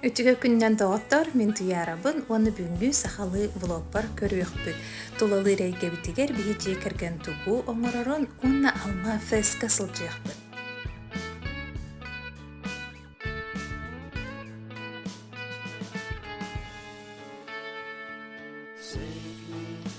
Үчүгэй күнүнэн доҕоттор, мин Туйаарабын уонна бүгүҥҥү сахалыы блогпар көрүөхпүт. Тулалыыр эйгэбитигэр биһи дьиэ кэргэн тугу оҥорорун уонна алма фреска сылдьыахпыт.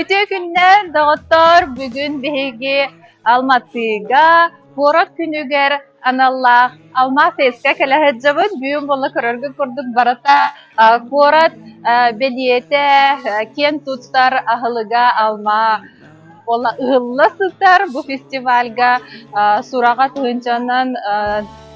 Ити күннэр, доҕоттор, бүгүн биһиги Алматыга куорат күнүгэр аналлаах Алмаас СК кэлэ сылдьабыт. Бүгүн буолла көрөргүт курдук барыта куорат бэлиэтэ, киэн туттар аһылыга алма ыһылла сытар бу фестивальга сураҕа тыһыынчанан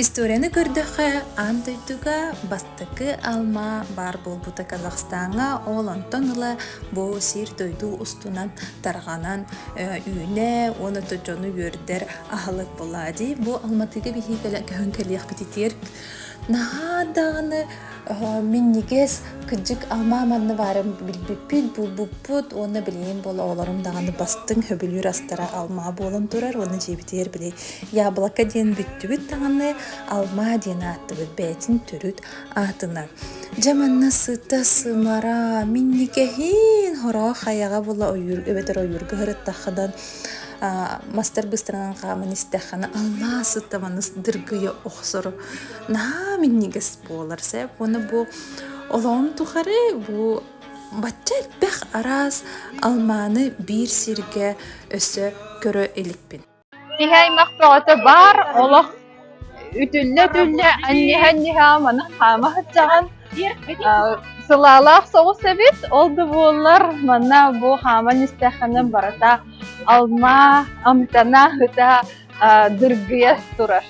Историяны көрдөххө, аан дойдуга бастакы алма баар буолбута Казахстаҥҥа, ол онтон ыла бу сир-дойду устунан тарҕанан үүнэ уонна да дьону үөрдэр аһылык буолаа дии. Бу Алматыга биһиги кэлэн кэлиэхпитигэр наһаа даҕаны Мин никээс кыдьык Ама манна баарын билбиппит, булбуппут уонна билигин буола оҕолорум даҕаны бастыҥ хөбүлүүр астара алма буолан турар уонна дьиэбитигэр били яблоко диэн бүттүбүт даҕаны алма диэн ааттыбыт бэйэтин төрүт аатынан. Дьэ манна сыта сымара минникэһин хороох хайаҕа була ойуур эбэтэр ойуурга хырыттаххынан мастар быстарынан хааман истэххинэ алма сыта маныс дыргыйа охсору наһаа минньигэс буолар сэ уонна бу олоон тухары бу бачча элбэх араас алмааны биир сиргэ өссө көрө иликпин киһи аймах бөҕөтө баар олох үтүллэ-үтүллэ анньыһа-анньыһа маны хаама сыдьаҕан сылаалаах соҕус эбит ол да буоллар манна бу хааман истэххинэ барыта алма амтана ыта дыргыйа турар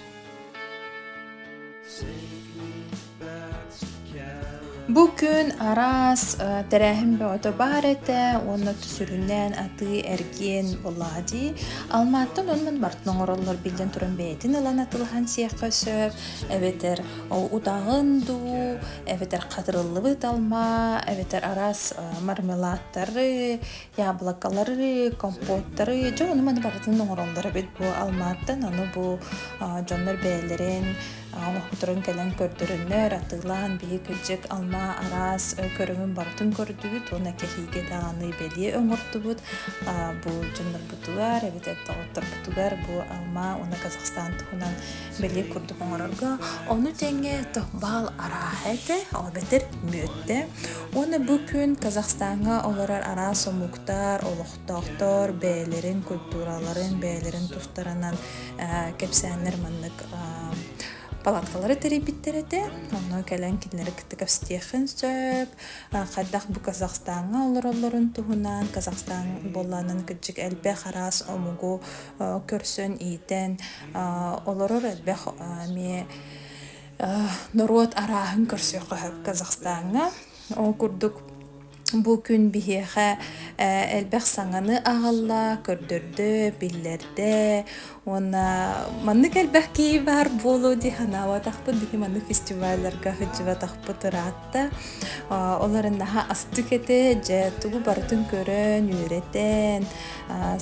Бу күн араас тэрээһин бөҕөтө баар этэ уонна сүрүннээн атыы-эргиэн буоллаҕа дии. Алмааттан оннун бартын оҥороллор биллэн туран бэйэтин ылан атылаһан сиэххэ сөп эбэтэр утаҕын дуу эбэтэр хатырыллыбыт алма эбэтэр араас мармеладтары яблокалары, компоттары, дьэ ону-маны барытын оҥороллор эбит бу Алмааттан. Аны бу дьоннор бэйэлэрин оҥоһуктарын кэлэн көрдөрөннөр, атыылаан биһи кырдьык Алма араас көрүҥүн барытын көрдүбүт уонна кэһиигэ даҕаны бэлиэ оҥордубут. Бу дьоннорбутугар эбэтэр доҕотторбутугар бу Алма уонна Казахстан туһунан бэлиэ курдук оҥорорго, ону тэҥэ тохбаал арааһа этэ, ол эбэтэр мүөттэ. Уонна бу күн Казахстаҥҥа олорор араас омуктар, олохтоохтор бэйэлэрин культураларын, бэйэлэрин тустарынан э, кэпсээннэр маннык э, палаткалары тэрийбиттэр этэ. Ону кэлэн кинилэри кытта кэпсэтиэххин сөп. Хайдах бу Казахстаҥҥа олороллорун туһунан, Казахстан буоллаанын кырдьык элбэх араас омугу көрсөн, иитэн, Олорор элбэх эмиэ норуот арааһын көрсүөххэ сөп Казахстаҥҥа. Ол курдук бу күн биһиэхэ элбэх саҥаны аҕалла, көрдөрдө, биллэрдэ уонна маннык элбэх киһи баар буолуо дии санаабатахпыт. Биһи маннык фестивалларга сылдьыбатахпыт ыраах да олорон наһаа астык этэ дьэ тугу барытын көрөн үөрэтэн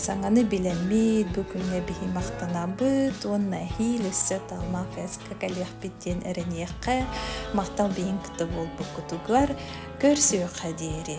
саҥаны билэммит бу күҥҥэ биһи махтанабыт уонна эһиил өссө талмах фэска кэлиэхпит диэн эрэниэххэ махтал биһиҥ кытта буолбуккутугар көрсүөххэ диэри